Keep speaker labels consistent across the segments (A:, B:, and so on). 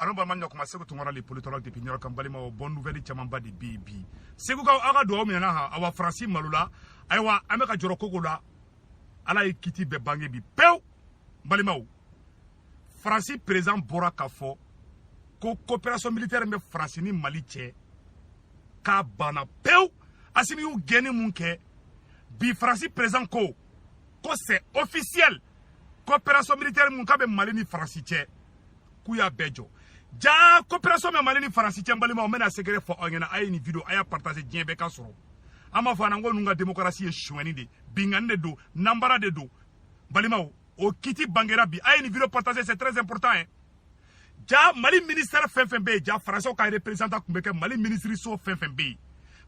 A: ano balima ɲakuma seku tunkara le politologue depuis new york n balimaw bonne nouvelle camanba de be bi segukaw aw ka duwaw minɛna ha awa faransi malola ayiwa an be ka jɔrɔ ko ko la ala ye kiti bɛɛ bange bi pewu balimaw faransi président bɔra k'a fɔ ko coopération militaire min bɛ faransi ni mali cɛ k'a banna pewu asimi y'u gɛnni mun kɛ bi faransi président ko ko c'est officiel coopération militaire mun k'a bɛ mali ni faransi cɛ k'u y'a bɛɛ jɔ ja coopération bɛ mali ni faransi cɛ n balimaw n bɛna secret fɔ aw ɲɛna a ye nin video a y'a partager diɲɛ bɛɛ k'a sɔrɔ an b'a fɔ an ko ninnu ka démocratie ye suɲɛni de binkanni de don nanbara de don balimaw o kiti bangera bi a ye nin video partager c'est très important hein ja mali ministère fɛn fɛn bɛ yen ja faransiw ka représentant tun bɛ kɛ mali minisiriso fɛn fɛn bɛ yen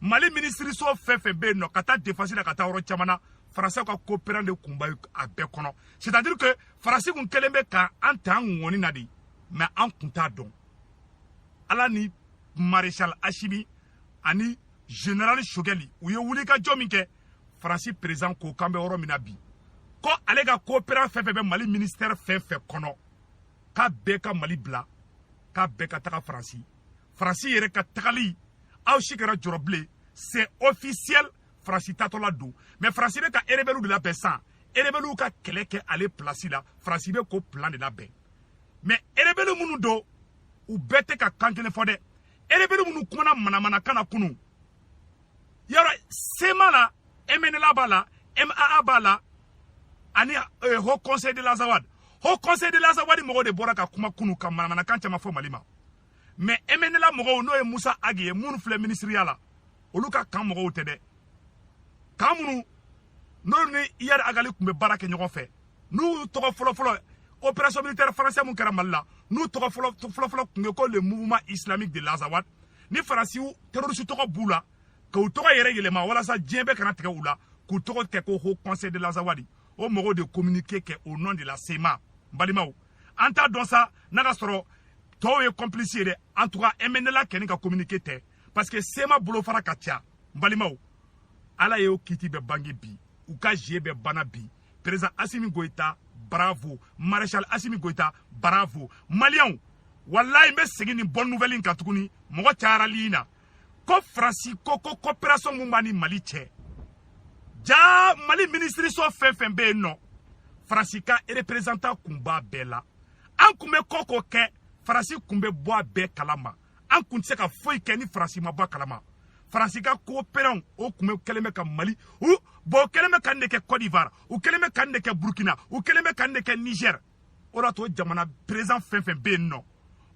A: mali minisiriso fɛn fɛn bɛ yen nɔ ka taa défense la ka taa yɔrɔ caman na faransiw ka coopérant de kun b'a bɛɛ kɔnɔ c'est à dire que faransi kun kɛlen bɛ ka an ta an ŋɔni na de mais an kun t'a dɔn ala ni maréchal asimi ani général sogɛli u ye wulikajɔ min kɛ faransi président ko k'an bɛ yɔrɔ min na bi ko ale ka coopérant fɛn fɛn bɛ mali ministère fɛn fɛn kɔnɔ k'a bɛɛ ka mali bila k'a bɛɛ ka taga faransi faransi yɛrɛ ka tagali aw si kana jɔrɔ bilen c'est officiel faransi tatɔla don mais faransi bɛ ka erebɛliw de labɛn san erebɛliw ka kɛlɛ kɛ ale place la faransi bɛ k'o plan de labɛn mais erebɛli minnu don u bɛɛ tɛ ka kan kelen fɔ dɛ erebɛli minnu kumana manamanakan na kunu yɔrɔ cma la mnla b'a la maa b'a la ani eh, haut conseil de l'azawad haut conseil de l'azawad mɔgɔw de bɔra ka kuma kunu ka manamanakan caman fɔ mali ma mais mnla mɔgɔw n'o ye musa agi ye minnu filɛ minisiriya la olu ka camp mɔgɔw tɛ dɛ camp minnu n'olu ni iyad ag ghali tun bɛ baara kɛ ɲɔgɔn fɛ n'u tɔgɔ fɔlɔfɔlɔ opération militaire français mun kɛra mali la n'u tɔgɔ fɔlɔfɔlɔ tun ye ko le mouvement islamique de l'azawad ni faransiw terroriste tɔgɔ b'u la k'u tɔgɔ yɛrɛ yɛlɛma walasa diɲɛ bɛɛ kana tigɛ u la k'u tɔgɔ kɛ ko haut conseil de l'azawad o mɔgɔw de communiqué kɛ au nom de la cma n balimaw an t'a dɔn sa n'a ka sɔrɔ tɔw ye complice ye dɛ en tout cas mnla kɛni ka communiqué tɛ parce que cma bolofara ka ca n balimaw ala y'o kiti bɛɛ bange bi u ka jeu bɛɛ banna bi président asimi goyita bravo maréchal asimi goyita bravo maliyɛnw walayi n bɛ segin nin bonne nouvelle in kan tuguni mɔgɔ cayara live in na ko faransi ko ko coopération min b'a ni mali cɛ ja mali minisiriso fɛn fɛn bɛ yen nɔ faransi ka représentant kun b'a bɛɛ la an kun bɛ ko ko kɛ faransi kun bɛ bɔ a bɛɛ kalama an kun tɛ se ka foyi kɛ ni faransi ma bɔ a kalama faransi ka kooperanw o kun bɛ kɛlen bɛ ka mali u bɔn o kɛlen bɛ ka nin de kɛ cote d'ivoire u kɛlen bɛ ka nin de kɛ burkina u kɛlen bɛ ka nin de kɛ niger o de to jamana perezan fɛn fɛn bɛ yen nɔ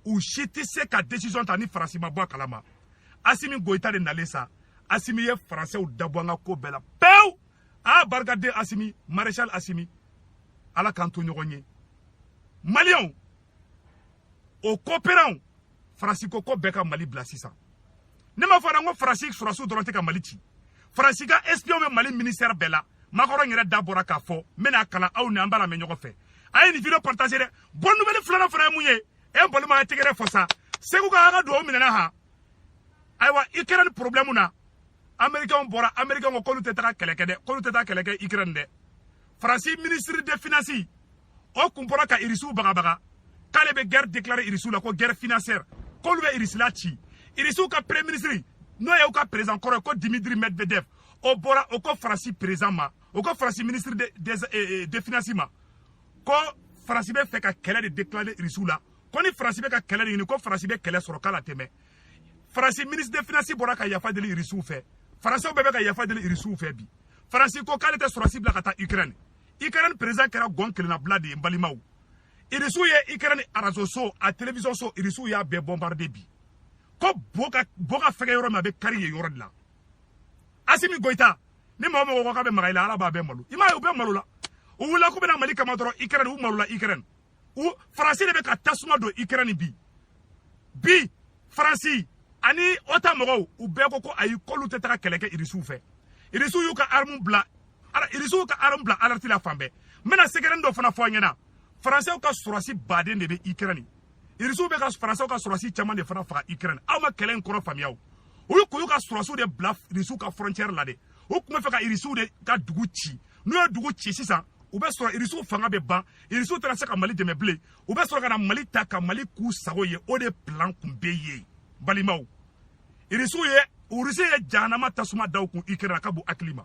A: u si tɛ se ka desizɔn ta ni faransi ma bɔ a kalama asimi goyita de nalen sa asimi ye faransɛw da bɔ an ka ko bɛɛ la pewu a barikaden asimi marechal asimi ala k'an to ɲɔgɔn ye maliyɛnw o koperanw faransi ko k'o bɛɛ ka mali bila sisan ne m'a fɔ dɛ n ko faransi sɔrɔsiw dɔrɔn tɛ ka mali ci faransi ka espion bɛ mali ministɛrɛ bɛɛ la makɔrɔn yɛrɛ da bɔra k'a fɔ n bɛna a kalan aw ni an b'a lamɛn ɲɔgɔn fɛ a ye nin video partage dɛ bonne nouvelle filanan fana ye mun ye n balimaw a ye tɛgɛrɛ fɔ sa segu ka an ka duwawu minɛna ha ayiwa ukraine problème na américain bɔra américain ko k'olu tɛ taga kɛlɛ kɛ dɛ k'olu tɛ taa kɛlɛ kɛ ukraine dɛ faransi ministre de finance o kun bɔra ka irisiw bagabaga k'ale bɛ gɛrɛ deklare irisiw la ko gɛrɛ finansiyɛri k'olu bɛ irisila ci irisiw ka premier minisiri n'o ye u ka perezan kɔrɔ ye ko dimitri medvedev o bɔra o ko faransi perezan ma o ko faransi minisiri de, de, de, eh, eh, de finansi ma ko faransi bɛ fɛ ka kɛlɛ de deklare irisiw la ko ni faransi bɛ ka kɛlɛ de ɲini ko faransi bɛ kɛlɛ sɔrɔ k'a latɛmɛ faransi minisiri de finansi bɔra ka yafa deli irisiw fɛ faransiw bɛɛ bɛ ka yafa deli irisiw fɛ bi faransi ko k'ale tɛ sɔrɔsi bila ka taa ukraine ikɛrɛni perezan kɛra gɔn kelennabila de ye n balimaw irisiw ye ikɛrɛni arazo so a telewisɔn so irisiw y'a bɛɛ bɔnbarde bi ko bɔ ka fɛgɛn yɔrɔ min a bɛ kari yen yɔrɔ de la asimi goyita ni mɔgɔ mɔgɔ ko k'a bɛ maga i la ala b'a bɛɛ malo i m'a ye u bɛɛ malola u wulila k'u bɛ na mali kama dɔrɔn ikɛrɛni u malola ikɛrɛni u faransi de bɛ ka tasuma don ukraine bi bi faransi ani otan mɔgɔw u bɛɛ ko ko ayi k'olu tɛ taga kɛlɛ kɛ irisiw fɛ irisiw y'u ka armu bila irisiw ka armu bila alerti la fan bɛɛ n bɛna sɛgɛrɛnin dɔ fana fɔ aw ɲɛna faransɛw ka sɔrɔsi baden de bɛ ukraine irisiw bɛ ka faransɛw ka sɔrɔsi caman de fana faga ukraine aw ma kɛlɛ in kɔrɔ faamuya o olu kun y'u ka sɔrɔsiw de bila irisiw ka frontière la de u kun b'a fɛ ka irisiw de ka dugu ci n'u ye dugu ci sisan u bɛ sɔrɔ irisiw fanga bɛ ban irisiw tɛna se ka mali dɛmɛ bilen u bɛ sɔrɔ ka na mali ta ka mali k'u sago ye o de plan kun bɛ yen balimaw irisiw ye urisi ye jahanama tasuma da u kun ikɛrɛn a ka bon hakili ma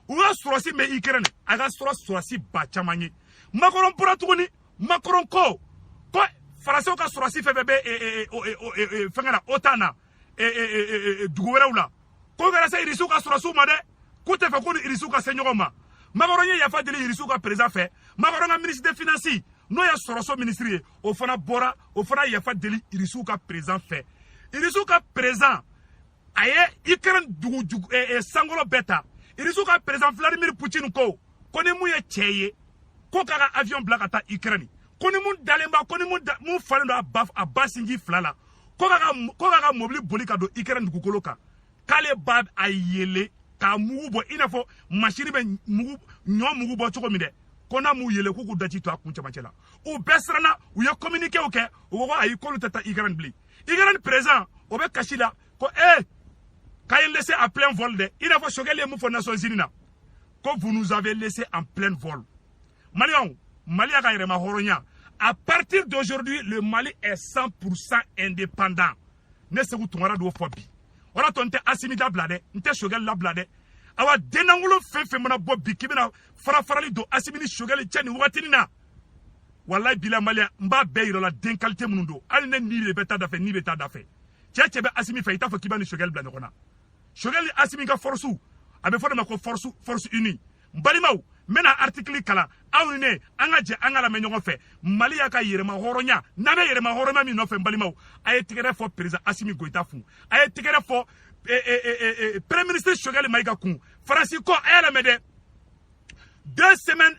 A: u ka sɔrɔsi bɛ ikɛrɛn a ka sɔrɔ sɔrɔsi ba caman ye makɔrɔn bɔra tuguni makɔrɔn ko ko faransɛw ka sɔrɔsi fɛn fɛn bɛ fɛnkɛ na otan na e, e, e, e, dugu wɛrɛw la ko kɛra se irisiw ka sɔrɔsiw ma dɛ k'u tɛ fɛ k'u ni irisiw ka se ɲɔgɔn ma makɔrɔn ye yafa deli irisiw ka perezan fɛ makɔrɔn ka minisiri finansi n'o ye sɔrɔso minisiri ye o fana bɔra o fana yafa deli irisiw ka perezan fɛ irisiw ka perezan a ye ukraine dugu dugu eh, eh, sankolo bɛɛ ta irisiw ka perezan vladimir putin ko ko ni mun ye cɛ ye ko k'a ka avion bila ka taa ukraine ko ni mun dalen b'a ko ni mun falen don a ba sinji fila la ko k'a ka mɔbili boli ka don ikɛrɛn dugukolo kan k'ale ba a yele k'a mugu bɔ i n'a fɔ masini bɛ ɲɔ mugu bɔ cogo min dɛ ko n'a m'u yele k'u k'u daji to a kun cɛmancɛ la u bɛɛ siranna u ye kominikew kɛ u ko ko ayi k'olu tɛ taa ikɛrɛn bilen ikɛrɛn perezan o bɛ kasi la ko ee k'a ye laissé en plein vol dɛ i n'a fɔ sogɛli ye mun fɔ nations unis na ko vous nous avez laissé en pleine vol Maliens, Mali y'a ka yɛrɛma hɔrɔnya. À partir d'aujourd'hui, le Mali est 100% indépendant. Ne Seku Tunkara d'o fɔ bi. O la to n tɛ Asimi dabila dɛ, n tɛ Sogɛli labila dɛ. Awa dennankolo fɛn fɛn mana bɔ bi k'i bɛna farafarali don Asimi ni Sogɛli cɛ nin wagatinin na. Walayi bilayi Maliens n b'a bɛɛ yira la den qualité minnu don. Hali ne ni de bɛ taa da fɛ, ni bɛ taa da fɛ. Cɛ cɛ bɛ Asimi fɛ i t'a fɔ k'i b'a ni Sogɛli bila ɲɔgɔn na. Sogɛli ni Asimi ka force a bɛ f'o de ma ko force force unie. n balimaw n bɛna artikili kalan aw ni ne an ka jɛ an ka lamɛn ɲɔgɔn fɛ mali y'a ka yɛrɛma hɔrɔnya n'an bɛ yɛrɛma hɔrɔnya min nɔfɛ n balimaw a ye tɛgɛrɛ fɔ perezan asimi goyita kun a ye tɛgɛrɛ fɔ eh, eh, eh, premier ministre sogɛli mayiga kun faransi ko a y'a lamɛn dɛ deux semaines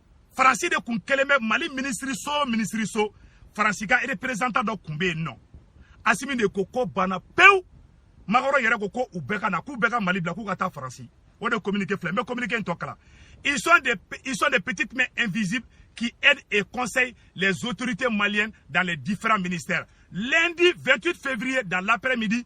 A: faransi de kun kelen bɛ mali minisiriso o minisiriso faransi ka reperezantan dɔ kun bɛ yen nɔ asimi de ko ko banna pewu makɔrɔn yɛrɛ ko ko u bɛɛ ka na k'u bɛɛ ka mali bila k'u ka taa faransi o de communiqué filɛ n bɛ communiqué in tɔ kalan ils sont des ils sont des petites mains invisibles qui aident et conseillent les autorités maliennes dans les différents ministères lundi 28 février dans l'après-midi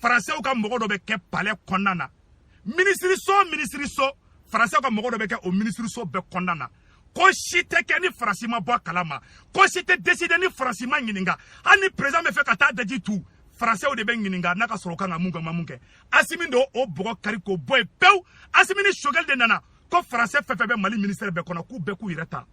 A: faransɛw ka mɔgɔ dɔ bɛ kɛ palɛ kɔnɔna na minisiriso minisiriso faransɛw ka mɔgɔ dɔ bɛ kɛ o minisiriso bɛɛ kɔnɔna na ko si tɛ kɛ ni faransi ma bɔ a kalama ko si tɛ deside ni faransi ma ɲininka hali ni perezan bɛ fɛ ka taa daji tu faransɛw de bɛ ɲininka n'a ka sɔrɔ u kan ka mun kɛ ma mun kɛ asimi de o bɔgɔ kari k'o bɔ yen pewu asimi ni sogɛli de nana ko faransɛ fɛn fɛn bɛ mali minisɛri bɛɛ kɔnɔ k'u bɛɛ k'u yɛrɛ ta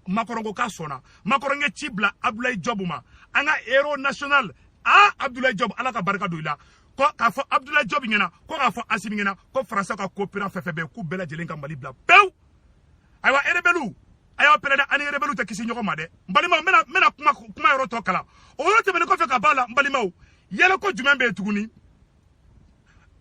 A: makɔrɔn ko k'a sɔnna makɔrɔn ye ci bila abdulayi jɔbu ma an ka héros national a abdulayi jɔbu ala ka barika don i la ko k'a fɔ abdulayi jɔbu ɲɛna ko k'a fɔ asimi ɲɛna ko faransɛ ka koperan fɛn fɛn bɛ k'u bɛɛ lajɛlen ka mali bila pewu ayiwa erebɛliw a y'aw pɛrɛn dɛ ani erebɛliw tɛ kisi ɲɔgɔn ma dɛ n balimaw n bɛna kuma kuma yɔrɔ tɔ kalan o yɔrɔ tɛmɛnen kɔfɛ ka b'a la n balimaw yɛlɛko jumɛn bɛ yen tuguni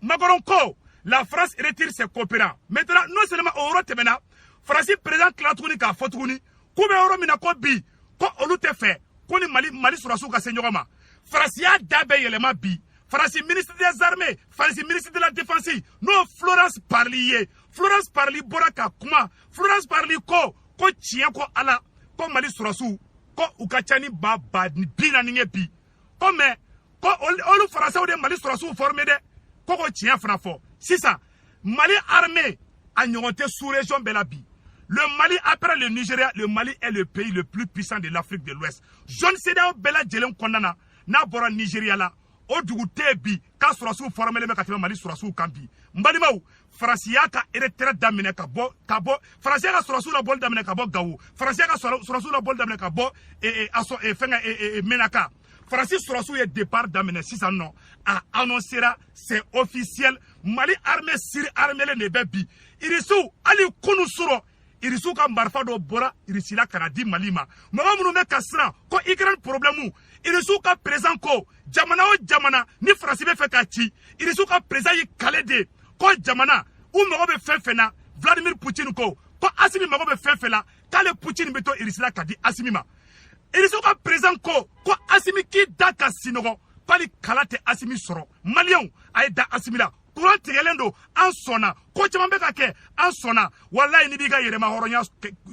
A: Macron ko la France retire ses coopérants maintenant non seulement o yɔrɔ tɛmɛna faransi président tila tuguni k'a fɔ tuguni k'u bɛ yɔrɔ min na ko bi ko olu tɛ fɛ k'u ni mali mali sɔrɔsiw ka se ɲɔgɔn ma faransi y'a da bɛɛ yɛlɛma bi faransi ministre des armées faransi ministre de la défense n'o florence parly ye florence parly bɔra ka kuma florence parly ko ko tiɲɛ ko ala ko mali sɔrɔsiw ko u ka ca ni ba ba bi naani ye bi ko mais ko olu faransiw de mali sɔrɔsiw fɔrime dɛ ko ko tiɲɛ fana fɔ sisan mali arme a ɲɔgɔn tɛ sous région bɛɛ la bi le mali après le nigeria le mali est le pays le plus puissant de l'afrique de l'ouest zone cedeao bɛɛ lajɛlen kɔnɔna na n'a bɔra nigeria la o dugu tɛ bi k'a sɔrɔsiw fɔrɔmelen bɛ ka tɛmɛ mali sɔrɔsiw kan bi n balimaw faransi y'a ka retrait daminɛ ka bɔ ka bɔ faransi y'a ka sɔrɔsiw labɔli daminɛ ka bɔ gawo faransi y'a ka sɔrɔsiw labɔli daminɛ ka bɔ e, e, a sɔ e, fɛngɛ e, e, e, menaka faransi sɔrɔsiw ye départ daminɛ sisan nɔ a annoncera c'est officiel mali armée surarmelen de bɛ bi irisiw hali kunu surɔ irisiw ka marifa dɔ bɔra irisila ka na di mali ma mɔgɔ minnu bɛ ka siran ko ukraine problɛmu irisiw ka perezan ko jamana o jamana ni faransi bɛ fɛ ka ci irisiw ka perezan y'i kale de ko jamana u mago bɛ fɛn fɛn na vladimir putin ko ko asimi mago bɛ fɛn fɛn la k'ale putin bɛ to irisila k'a di asimi ma irisiw ka perezan ko ko asimi k'i da ka sinɔgɔ hali kala tɛ asimi sɔrɔ maliyɛnw a ye da asimi la kuran tigɛlen don an sɔnna ko caman bɛ ka kɛ an sɔnna walayi n'i b'i ka yɛrɛmahɔrɔnya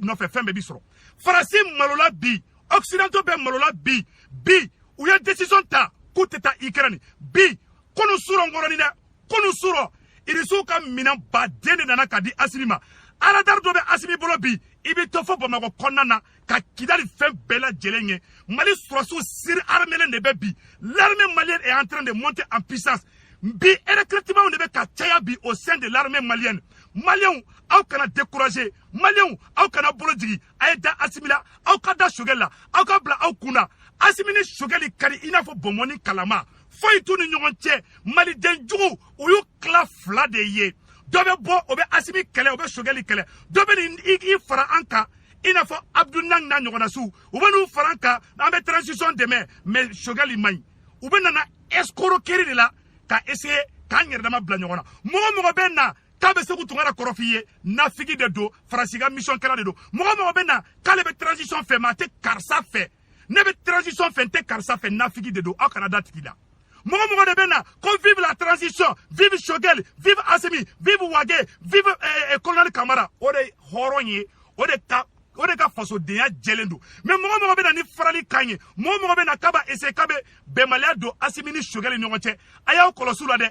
A: nɔfɛ fɛn bɛɛ b'i sɔrɔ faransi malola bi occidentaux bɛɛ malola bi bi u ye decision ta k'u tɛ taa ukraine bi kunu surɔ nkɔrɔni dɛ kunu surɔ irisiw ka minɛn baden de nana ka di asimi ma aradari dɔ bɛ asimi bolo bi i bɛ to fo bamakɔ kɔnɔna na ka kidali fɛn bɛɛ lajɛlen ye mali sɔrɔsiw surarmelen de bɛ bi l'armée malienne est en train de monter en puissance bi recrutement de bɛ ka caya bi au sein de l'armée malienne maliyɛnw aw kana décourager maliyɛnw aw kana bolo jigi a ye da asimi la aw ka da sogɛli la aw ka bila aw kun na asimi ni sogɛli ka di i n'a fɔ bɔnbɔnni kalama foyi t'u ni ɲɔgɔn cɛ maliden juguw u y'u tila fila de ye dɔ bɛ bɔ o bɛ asimi kɛlɛ o bɛ sogɛli kɛlɛ dɔ bɛ n'i fara an kan i n'a fɔ abdoul niang n'a ɲɔgɔnnasiw u bɛ n'u fara an kan an bɛ transition dɛmɛ mais sogɛli man ɲi u bɛɛ nana escroquerie de la ka essayer k'an yɛrɛ dama bila ɲɔgɔn na mɔgɔ mɔgɔ bɛ na k'a bɛ seku tunkara kɔrɔf'i ye nafigi de don faransi ka mission kɛla de don mɔgɔ mɔgɔ bɛ na k'ale bɛ transition fɛ mais a tɛ karisa fɛ ne bɛ transition fɛ n tɛ karisa fɛ nafigi de don aw kana da a tigi la mɔgɔ mɔgɔ de bɛ na ko vive la transition vive shogel vive asimi vive wage vive eh, eh, colonel kamara o de hɔrɔn ye o de ka o de ka fasodenya jɛlen don mais mɔgɔ mɔgɔ bɛ na ni farali kan ye mɔgɔ mɔgɔ bɛ na k'a b'a essayer k'a bɛ bɛnbaliya don asimi ni shogɛli ɲɔgɔn cɛ a y'aw kɔlɔsi u la dɛ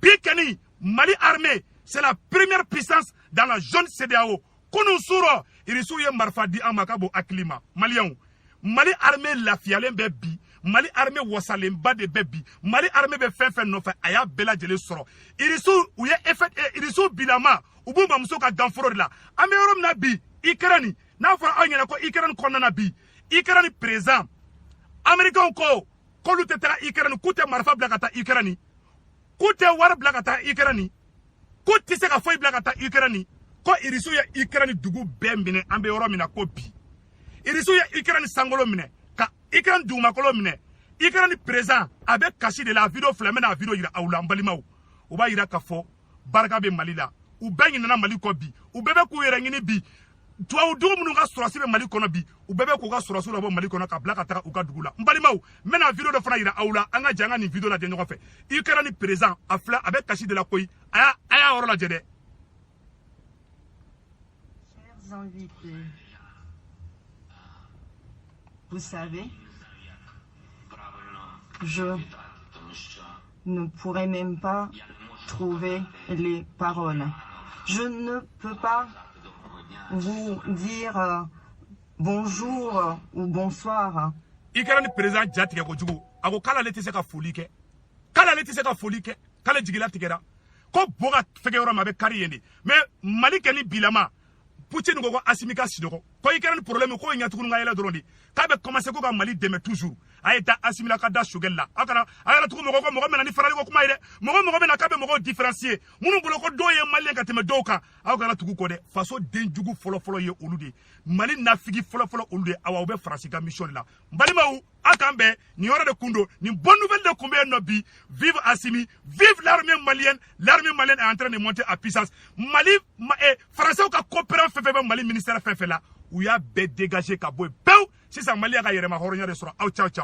A: bi kɔni mali armée c'est la première puissance dans la zone cedeao kunu surɔ irisiw ye marifa di an ma ka bon hakili ma maliyɛnw mali arme lafiyalen bɛ bi mali arme wasalenba de bɛ bi mali arme bɛ fɛn fɛn nɔfɛ a y'a bɛɛ lajɛlen sɔrɔ irisiw u ye efɛ eh, irisiw bilama u b'u mamuso ka ganforo de la an bɛ yɔrɔ min na bi ikɛrɛni n'a fɔra aw ɲɛna ko ikɛrɛni kɔnɔna na bi ikɛrɛni perezan amerikɛnw ko k'olu tɛ taga ikɛrɛni k'u tɛ marifa bila ka taa ikɛrɛni k'u tɛ wari bila ka taa Ukraine k'u tɛ se ka foyi bila ka taa Ukraine ko irisiw ye Ukraine dugu bɛɛ minɛ an bɛ yɔrɔ min na ko bi irisiw ye Ukraine sankolo minɛ ka Ukraine dugumakolo minɛ Ukraine président a bɛ kasi de la a video filɛ n bɛna a video yira aw la n balimaw u b'a yira k'a fɔ barika bɛ Mali la u bɛɛ ɲinɛna Mali kɔ bi u bɛɛ bɛ k'u yɛrɛ ɲini bi tubabudugu minnu ka sɔrɔdasi bɛ mali kɔnɔ bi u bɛɛ bɛ k'u ka sɔrɔdasiw labɔ mali kɔnɔ ka bila ka taga u ka dugu la n balimaw n bɛna video dɔ fana yira aw la an ka jɛ an ka nin video lajɛ ɲɔgɔn fɛ ikɛrɛni perezan a filɛ a bɛ kasi de la koyi a y'a a y'a yɔrɔ lajɛ
B: dɛ Vous savez, Je ne pourrais même pas trouver les paroles. Je ne peux pas vous dire euh, bonjour ou bonsoir. ikɛrɛni
A: perezan ja tigɛ kojugu a ko k'ale tɛ se ka foli kɛ k'ale tɛ se ka foli kɛ k'ale jigi latigɛra ko bɔ ka fɛgɛ yɔrɔ ma a bɛ kari yen de mais mali kɔni bilama putin ko ko asimi ka sinɔgɔ ko ikɛrɛni problème ko ɲɛ tugu ni k'a yɛlɛ dɔrɔn de k'a bɛ commencer ko ka mali dɛmɛ toujours a ye da asimi la ka da sogɛli la a kana a kana tugu mɔgɔ kɔ mɔgɔ mɛna ni farali ko kuma ye dɛ mɔgɔ o mɔgɔ bɛna k'a bɛ mɔgɔw différencier minnu bolo ko dɔw ye maliyɛn ka tɛmɛ dɔw kan aw kana tugu kɔ dɛ faso den jugu fɔlɔfɔlɔ ye olu de mali nafigi fɔlɔfɔlɔ olu de awa u bɛ faransi ka mission de la n balimaw an k'an bɛn nin yɔrɔ de kun don nin bonne nouvelle de kun bɛ yen nɔ bi vive asimi vive l'armée malienne l'armée malienne est en train de monter à puissance mali ma, eh, français ka coopérant fɛn fɛn bɛ mali ministère fɛn fɛn la u y'a bɛɛ dégager ka bɔ yen pewu sisan mali y'a ka yɛrɛmahɔrɔnya de sɔrɔ aw ciao ciao